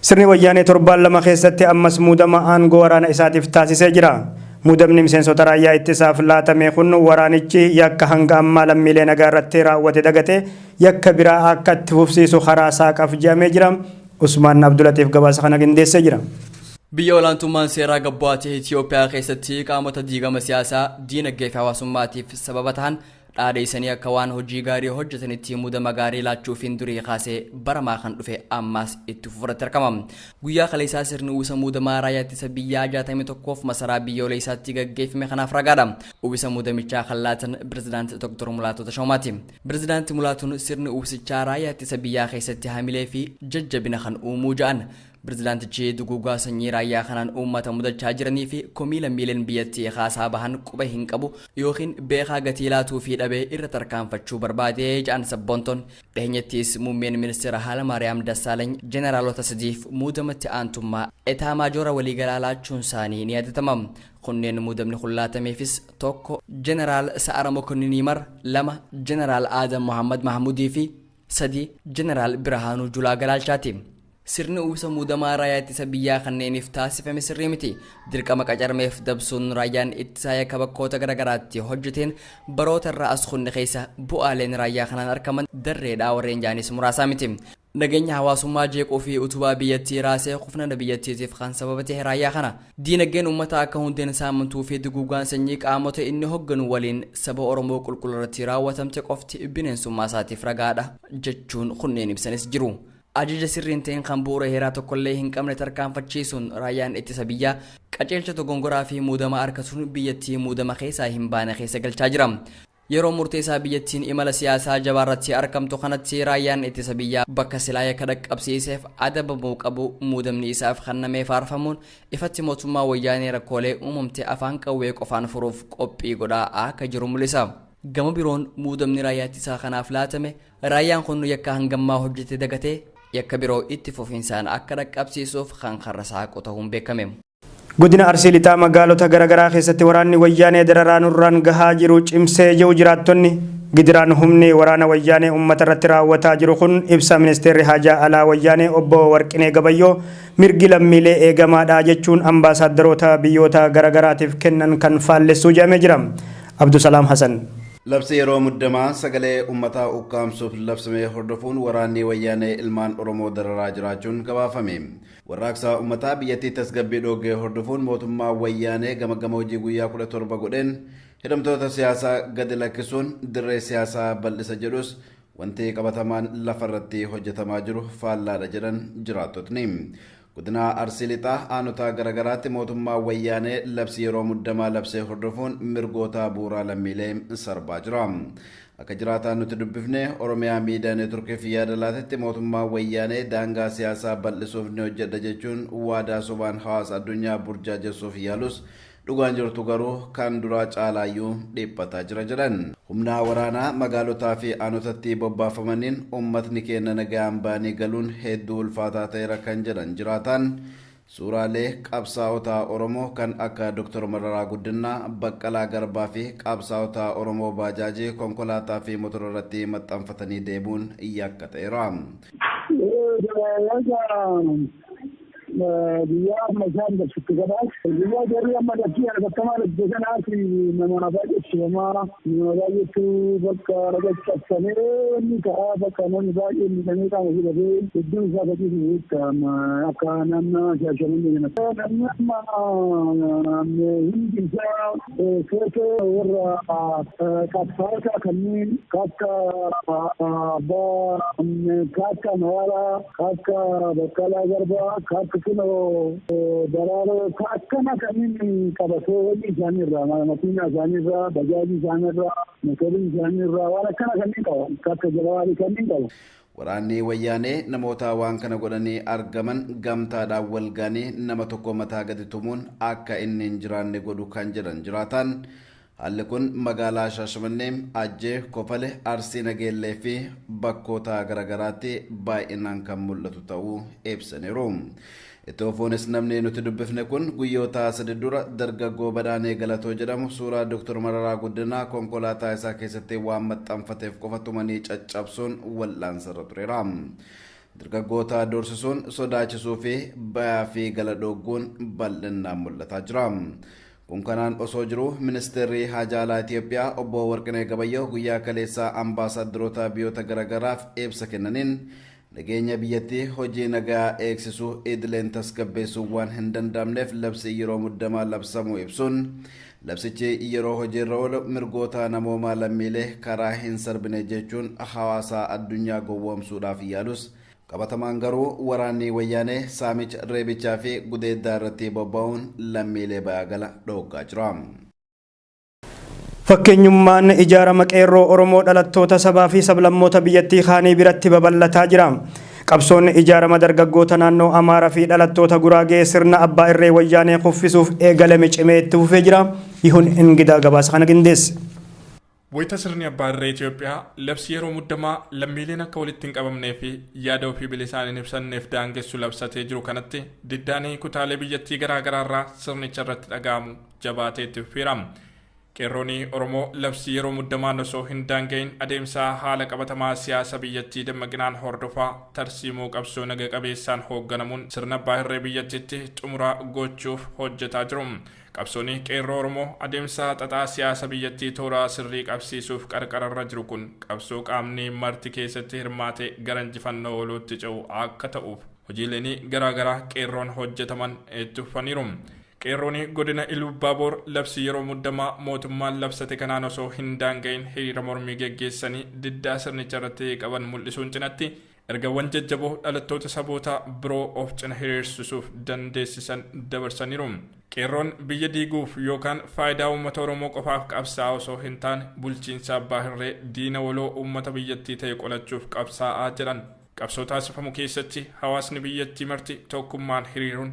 Sirni Wayyaanee torbaan lama keessatti ammas muudama aangoo waraana isaatiif taasisee jira. Muudamni miseensota raayyaa ittisaaf laatame kun waraanichi yakka hanga ammaa lammiilee nagaa irratti raawwate dagatee yakka biraa akka itti fufsiisu karaa saaqaaf je'amee jira. Usmaan Abdulatiif gabaasa kana qindeessee jira. Biyya olaantummaan seeraa gad bu'aa ta'e Itiyoophiyaa keessatti qaamota diigama siyaasaa, diinagdee fi hawaasummaatiif sababa tahan Dhaadeessanii akka waan hojii gaarii hojjetanitti mudama gaarii laachuufiin durii kaasee baramaa kan dhufe ammaas itti fufuratti argama. Guyyaa kaleessaa sirni uwwisa muudamaa raayyaa ittisa biyyaa 61f masaraa biyyooleessaatti gaggeeffame kanaaf ragaadha. Uwwisa muudamichaa kan laatan Pirezidaanti Dr. Mulaatoo Tashoomaati. Pirezidaanti Mulaatuun sirni uwwisichaa raayyaa ittisa biyyaa keessatti hamilee fi jajjabina kan uumuu ja'an. Pirezidaantichi duguugaa sanyii raayyaa kanaan uummata mudachaa jiranii fi komii lammiileen biyyattii kaasaa bahan quba hin qabu yookiin beekaa gatii laatuufii dhabee irra tarkaanfachuu barbaade jedhan sabboontoon. Dhiheenyattis muummeen ministeera Haalamaariyaam Dassaalany jeneraalota sadiif muudama itti aantummaa etaamaajoora waliigalaa laachuunsaanii ni yaadatama. Kunneen muudamni kun laatameefis 1. Jeneraal Sa'ara Mokonnin Yimar 2. Jeneraal Aadam Mohaammad Mahaamuudii fi 3, Jeneraal Birhaanuu Julaa Galaalchaati. Sirni uwwisa muudamaa raayyaa ittisa biyyaa kanneeniif taasifame sirrii miti. Dirqama qacarmeef dabsuun raayyaan ittisaa yakka bakkoota garaagaraatti hojjeteen baroota irraa as kunne keessa bu'aaleen raayyaa kanaan argaman darreedhaa warreen jaanis muraasaa miti. Nageenya hawaasummaa jeequu fi utubaa biyyattii raasee kufnana biyyattiitiif kan sababa ta'e raayyaa kana. Diinagdeen ummataa akka hundeen saamantuu fi duguugaan sanyii qaamota inni hogganu waliin saba Oromoo qulqulluu irratti raawwatamte qofti bineensummaa isaatiif ragaa dha jechuun kunneen ibsanis jiru. Ajaja sirrii hin ta'in kan bu'uura heeraa tokkollee hin qabne tarkaanfachiisuun raayyaan ittisa biyyaa qajeelcha dogongoraa fi muudama arkatuun biyyattii muudama keessaa hin baane keessa galchaa jira. Yeroo murteessaa biyyattiin imala siyaasaa jabaarratti argamtu kanatti raayyaan ittisa biyyaa bakka silaa yakka dhaqqabsiiseef adabamuu qabu muudamni isaaf kennamee faarfamuun ifatti mootummaa wayyaanee rakkoolee uumamte afaan qawwee qofaan furuuf qophii godhaa akka jiru mul'isa. Gama biroon muudamni raayyaa ittisaa kanaaf laatame raayyaan kun yakka hangammaa hojjete dagatee yakka biroo itti fufinsaan akka dhaqqabsiisuuf kan karra saaqu tahuun beekame. Godina Arsii Lixaa magaalota garagaraa keessatti waraanni Wayyaanee dararaa nurraan gahaa jiru cimsee jiru jiraattonni Gidiraan humni waraana Wayyaanee ummata irratti raawwataa jiru kun ibsa Ministeerri Haajaa Alaa Wayyaanee Obbo Warqinee Gabayyoo mirgi lammiilee eegamaadha jechuun ambaasaaddaroota biyyoota garagaraatiif kennan kan faallessuu jedhamee jira. Abdusalaam Hasan. Labsii yeroo muddamaa sagalee ummataa ukkaamsuuf labsame hordofuun waraanni Wayyaanee ilmaan Oromoo dararaa jiraachuun gabaafame. Warraaqsa ummataa biyyattii tasgabbii dhoogge hordofuun mootummaan Wayyaanee gamaggama hojii guyyaa 17 godheen hidhamtoota siyaasaa gadi lakkisuun dirree siyaasaa bal'isa jedhus wanti qabatamaan lafarratti hojjetamaa jiru faallaadha jedhan jiraattotni. Godina Arsii Lixaa aanotaa garaagaraatti mootummaan Wayyaanee labsii yeroo muddamaa labsee hordofuun mirgoota bu'uuraa lammiilee sarbaa jira. Akka jiraataan nuti dubbifne Oromiyaa Miidiyaa Neetworkiif yaada laatetti mootummaan Wayyaanee daangaa siyaasaa bal'isuuf ni hojjedha jechuun waadaa sobaan hawaasa addunyaa burjaajessuuf yaalus dhugaan jirtu garuu kan duraa caalaayyuu dhiphataa jira jedhan. Humnaa waraanaa magaalotaa fi aanotattii bobbaafamaniin uummatni keenna nagayaan ba'anii galuun hedduu ulfaataa ta'eera kan jedhan jiraataan, Suuraalee qabsaa'ota Oromoo kan akka Dr. Mararaa Guddinnaa, Baqqalaa Garbaa fi qabsaa'ota Oromoo baajaajii, konkolaataa fi motora irratti maxxanfatanii deemuun yakka ta'eera. Egaa guyyaa amma isaan dabsutti kanaaf guyyaa jarri amma labsii hatattamaa labsite kanaaf namaa baay'eetu tumamaa. Nama baay'eetu bakka dhaqee cabsamee wanni ta'a bakka namni baay'ee miidhamee qaama ofii dhabee hedduun isaa akka ciisu beekta amma akka naannaa Shaashamannee kanatti. Namni amma hundi isaa footoo warra qabsaa'otaa kanneen akka abbaa akka Mararaa. Akka Baqqalaa Garbaa, Kak Kinoo, Daraaroo ka akkana kanniin qabatee hojii isaanii irraa, makiinaa isaanii irraa, bajaajii isaanii irraa, motorii isaanii irraa waan akkana kanniin qaba. Ka akka Jawaarii kanniin qaba. Waraanni Wayyaanee namoota waan kana godhanii argaman gamtaadhaan wal ga'anii nama tokko mataa gadi tumuun akka inni hin jiraanne godhu kan jedhan jiraataan, Haalli kun magaalaa Shaashamannee, Ajjee, Kofale, Arsii Nageellee fi bakkoota garaagaraatti baay'inaan kan mul'atu ta'uu ibsaniiru. Itti fufuunis namni nuti dubbifne kun guyyoota sadi dura dargaggoo Badhaanee Galatoo jedhamu suuraa Dr. Mararaa Guddinaa konkolaataa isaa keessatti waan maxxanfateef qofa tumanii caccabsuun wal'aansarra tureera. Dargaggoota doorsisuun, sodaachisuu fi bayaa fi gala dhoogguun bal'innaan mul'ataa jira. Kun kanaan osoo jiruu Ministeerri Haajaa Alaa Itiyoophiyaa Obbo Warqinee Gabayyoo guyyaa kaleessaa Ambaasaaddaroota biyoota garagaraaf ibsa kennaniin nageenya biyyattii hojii nagayaa eegsisuu idileen tasgabbeessuun waan hin danda'amneef labsii yeroo muddamaa labsamuu ibsuun labsichi yeroo hojiirra oolu mirgoota namoomaa lammiilee karaa hin sarbine jechuun hawaasaa addunyaa gowwoomsuudhaaf yaalus Qabatamaan garuu waraanni Wayyaanee saamicha, reebichaa fi gudeeddaa irratti bobba'uun lammiilee ba'aa gala dhooggaa jira. Fakkeenyummaan ijaarama Qeerroo Oromoo dhalattoota sabaa fi sablammoota biyyattii kaanii biratti babal'ataa jira. Qabsoon ijaarama dargaggoota naannoo Amaaraa fi dhalattoota Guraagee sirna abbaa irree Wayyaanee kuffisuuf eegalame cimee itti fufee jira. Yihun Ingidaa gabaasa kana qindeesse. Wayita sirni abbaa irree Itoophiyaa labsii yeroo muddamaa lammiileen akka walitti hin qabamnee fi yaada ofii bilisaan hin ibsanneef daangessu labsatee jiru kanatti diddaan kutaalee biyyattii garaa garaa irraa sirnicha irratti dhaga'amu jabaatee itti fufeera. Qeerroon Oromoo labsii yeroo muddamaan osoo hin daanga'in adeemsaa haala qabatamaa siyaasa biyyattii dammaqinaan hordofaa tarsiimoo qabsoo naga qabeessaan hoogganamuun sirna abbaa irree biyyattiitti xumura gochuuf hojjetaa jiru. Qabsoon Qeerroo Oromoo adeemsa xaxaa siyaasa biyyattii toora sirrii qabsiisuuf qarqararra jiru kun qabsoo qaamni marti keessatti hirmaate gara injifannoo walootti ce'u akka ta'uuf hojiileen garaa garaa Qeerroon hojjetaman itti fufaniiru. Qeerroon godina Iluubbaaboor labsii yeroo muddamaa mootummaan labsate kanaan osoo hin daanga'in hiriira mormii geggeessanii diddaa sirnicha irratti qaban mul'isuun cinatti Ergawwan jajjaboo dhalattoota saboota biroo of cina hiriirsisuuf dandeessisan dabarsaniiru. Qeerroon biyya diiguuf yookaan faayidaa uummata Oromoo qofaaf qabsaa'aa osoo hin taane bulchiinsa abbaa hirree diina waloo uummata biyyattii ta'e qolachuuf qabsaa'aa jedhan. Qabsoo taasifamu keessatti hawaasni biyyattii marti tokkummaan hiriiruun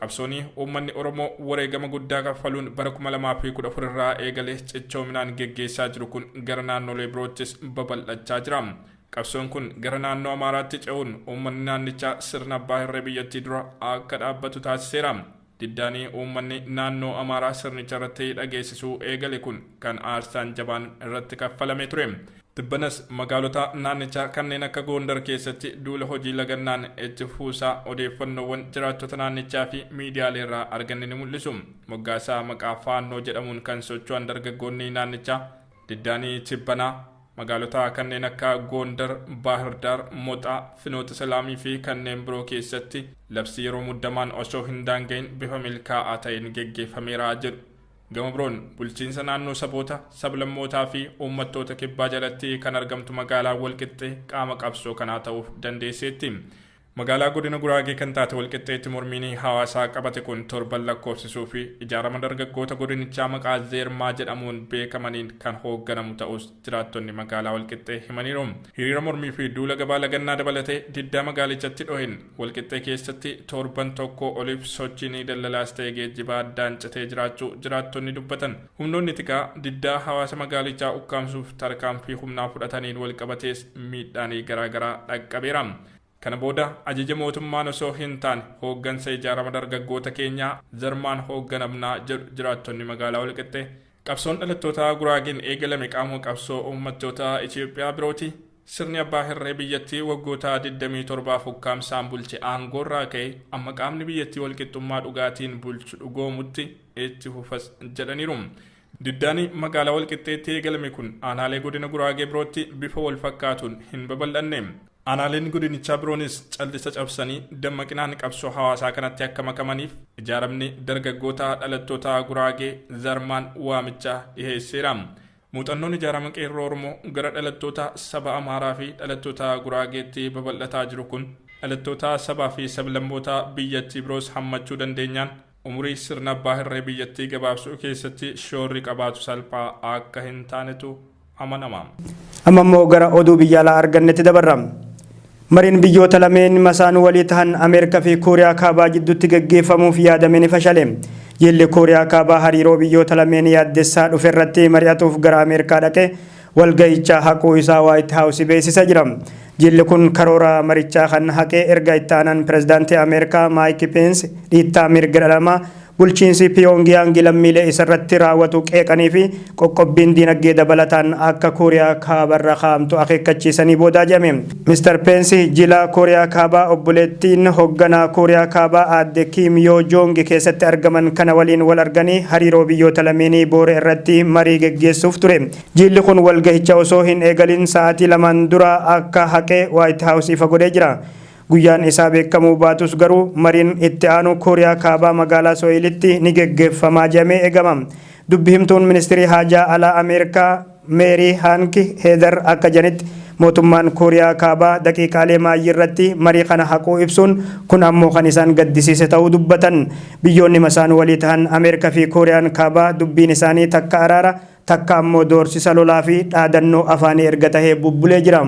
Qabsoonii uummanni Oromoo wareegama guddaa kaffaluun bara 2014 irraa eegalee cichoominaan geggeessaa jiru kun gara naannolee biroottis babal'achaa jira. Qabsoon kun gara naannoo Amaaraatti ce'uun uummanni naannichaa sirna abbaa hirree biyyattii dura akka dhaabbatu taasiseera. Diddaani uummanni naannoo Amaaraa sirnicha irratti dhageessisuu eegale kun kan aarsaan jabaan irratti kaffalamee ture. Tibbanas magaalota naannichaa kanneen akka Goondar keessatti duula hojii lagannaan itti fufuusaa odeeffannoowwan jiraattota naannichaa fi miidiyaaleerraa arganne ni mul'isu. Moggaasaa maqaa Faannoo jedhamuun kan socho'an dargaggoonni naannichaa diddaani tibbanaa, Magaalota kanneen akka Goondar, Baahirdaar, Moxaa, Finoota Selaamii fi kanneen biroo keessatti labsii yeroo muddamaan osoo hin daanga'iin bifa milkaa'aa ta'een geggeeffameera jedhu. Gama biroon bulchiinsa naannoo saboota, sablammootaa fi uummattoota kibbaa jalatti kan argamtu magaalaan Walqixxee qaama qabsoo kanaa ta'uuf dandeesseetti. Magaalaa Godina Guraagee kan taate Walqixxeetti mormiin hawaasaa qabate kun torban lakkoofsisuu fi ijaarama dargaggoota godinichaa maqaa Zeermaa jedhamuun beekamaniin kan hoogganamu ta'uus jiraattonni magaalaa Walqixxee himaniiru. Hiriira mormii fi duula gabaa lagannaa dabalatee diddaa magaalichatti dhoheen Walqixxee keessatti torban tokkoo oliif sochiin daldalaas ta'e geejjibaa addaan citee jiraachuu jiraattonni dubbatan. Humnoonni tikaa diddaa hawaasa magaalichaa ukkaamsuuf tarkaanfii humnaa fudhataniin walqabatees miidhaan garaa garaa dhaqqabeera. Kana booda ajaja mootummaan osoo hintaane hooggansa ijaarama dargaggoota keenyaa zarmaan hoogganamna jedhu jiraattonni magaalaa Walqixxee. Qabsoon dhalattootaa Guraageen eegalame qaamuma qabsoo uummattoota Itoophiyaa birooti. Sirni abbaa hirree biyyattii waggoota 27f ukkaamsaan bulche aangoorraa ka'ee amma qaamni biyyattii walqixxummaa dhugaatiin bulchu dhugoomutti itti fufas jedhaniiru. Diddaan magaalaa Walqixxeetti eegalame kun aanaalee godina Guraagee birootti bifa walfakkaatuun hin babal'anne. Aanaaleen godinichaa biroonis callisa cabsanii dammaqinaan qabsoo hawaasaa kanatti akka makamaniif ijaaramni dargaggoota dhalattoota Guraagee, Zarmaan, waamicha dhiheesseera. Muuxannoon ijaarama Qeerroo Oromoo gara dhalattoota saba Amaaraa fi dhalattoota Guraageetti babal'ataa jiru kun dhalattoota sabaa fi sablammoota biyyattii biroos hammachuu dandeenyaan Umurii sirna abbaa hirree biyyattii gabaabsuu keessatti shoorri qabaatu salphaa akka hin taanetu amanama. Amma immoo gara oduu biyya alaa argannetti dabarra. Mariin biyyoota lameen masaan walii tahan Ameerikaa fi Kooriyaa Kaabaa jidduutti gaggeeffamuuf yaadame ni fashale. Jilli Kooriyaa Kaabaa hariiroo biyyoota lameen yaaddessaa dhufe irratti mari'atuuf gara Ameerikaa dhaqe. walga'icha haquu isaa Waayit Haawusi beeksisa jira. Jilli kun karoora marichaa kan haqe erga itti aanaan pirezidaantii Ameerikaa Maayik Peensi dhiittaa mirga dhala namaa bulchiinsi Piyoongiyaangi lammiilee isarratti raawwatu qeeqanii fi qoqqobbiin diinagdee dabalataan akka Kooriyaa Kaabarra kaa'amtu akeekkachiisanii boodaa jedhame. Mr Peensi jila Kooriyaa Kaabaa obboleettiin hogganaa Kooriyaa Kaabaa aadde Kiim Yoo Joongi keessatti argaman kana waliin wal arganii hariiroo biyyoota lameenii boore irratti marii geggeessuuf ture. Jiilli kun walgahicha osoo hin eegalin sa'aatii lamaan dura akka haqe Waayit Haawus ifa godhee jira. Guyyaan isaa beekamuu baatus garuu mariin itti aanu Kooriyaa Kaabaa magaalaa Soo'ilitti ni geggeeffamaa jedhamee eegama. Dubbi himtuun ministirii haajaa alaa Ameerikaa Meerii Haank Heedar akka janitti, mootummaan Kooriyaa Kaabaa daqiiqaalee maayyii irratti marii kana haquu ibsuun, kun ammoo kan isaan gaddisiise ta'uu dubbatan. Biyyoonni masaan walii tahan Ameerika fi Kooriyaan Kaabaa dubbiin isaanii takka araara, takka ammoo doorsisa lolaa fi dhaadannoo afaanii erga tahee bubbulee jira.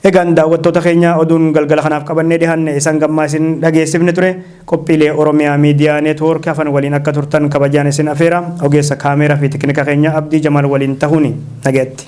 Egaan daawwattoota keenya oduun galgala kanaaf qabannee dhihaanne isa hanga ammaa isin dhageessifne ture. Qophiilee Oromiyaa Miidiyaa Neetwoork hafan waliin akka turtan kabajaan isin afeera. Ogeessa Kaameeraa fi Tekinika keenya Abdii Jamaal waliin tahuuni. Nagayatti.